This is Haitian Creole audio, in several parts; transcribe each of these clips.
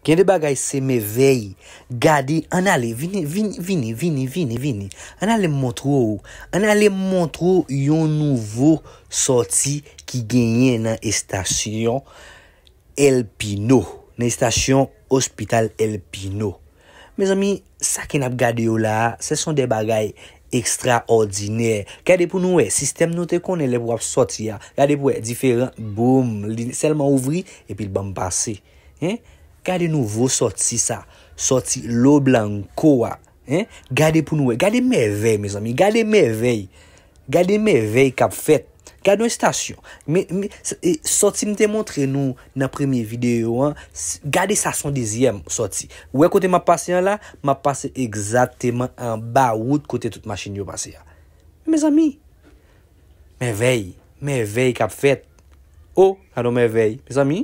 Gen de bagay se mevèy. Gade, ann ale, vini, vini, vini, vini, vini, vini. Ann ale m montre w, ann ale m montre w yon nouvo sòti ki genyen nan estasyon El Pino, nan estasyon Ospital El Pino. Mezanmi sa ke nap gade yo la a se son de bagay ekstra òdinè gade pou nou wè sistèm nou te konnen lè pou ap sòti a gade pou wè diferan boom li sèlman ouvri epil banm pase hein gade nouvo sòti sa sòti lo blanco a hein gade pou nou wè gade mèvèy mezanmi gade mèvèy. Gade mèvèy k ap fèt! Gade yon estasyon! Sòti m te montre nou nan premye videyo an, gade estasyon dezyèm sòti. Ou wè kote m ap pase an la? M ap pase egzateman anba wout kote tout machin yo pase a. Mezanmi! Mèvèy! Mèvèy k ap fèt! O! Gade yon mèvèy, mezanmi!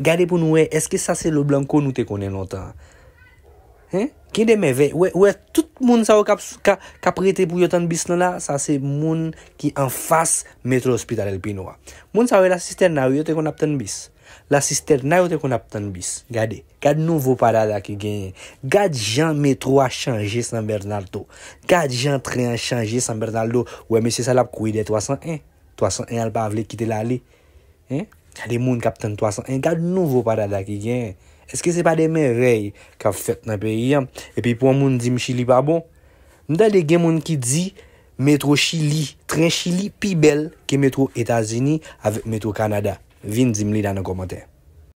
Gade pou nou wè eske sa se Loblanco nou te konnen lontan an. Hein? Gen de mèvèy. Ou wè, ou wè tout moun sa yo k ap, k a, k ap rete pou yo tann bis lan la, sa se moun ki anfas Metro Hospital El Pino a. Moun sa yo La Cisterna wi yo te konn ap tann bis. La Cisterna yo te konn ap tann bis. Gade, gad nouvo padada ki genyen. Gad jan metro a chanje San Bernardo. Gad jan tren an chanje San Bernardo. Ou wè mesye sa l ap kouri dèyè 301. 301 a l pa vle kite l ale. Hein gade moun kap tann 300 en gad nouvo pa dada ki gen eske se pa de mèrèy kap fèt nan peyi an epi pou yon moun dim chili pa bon m tande gen moun ki di metro chili tren chili pi bèl ke metro etazini avèk metro kanada vin dim li la nan kòmantè.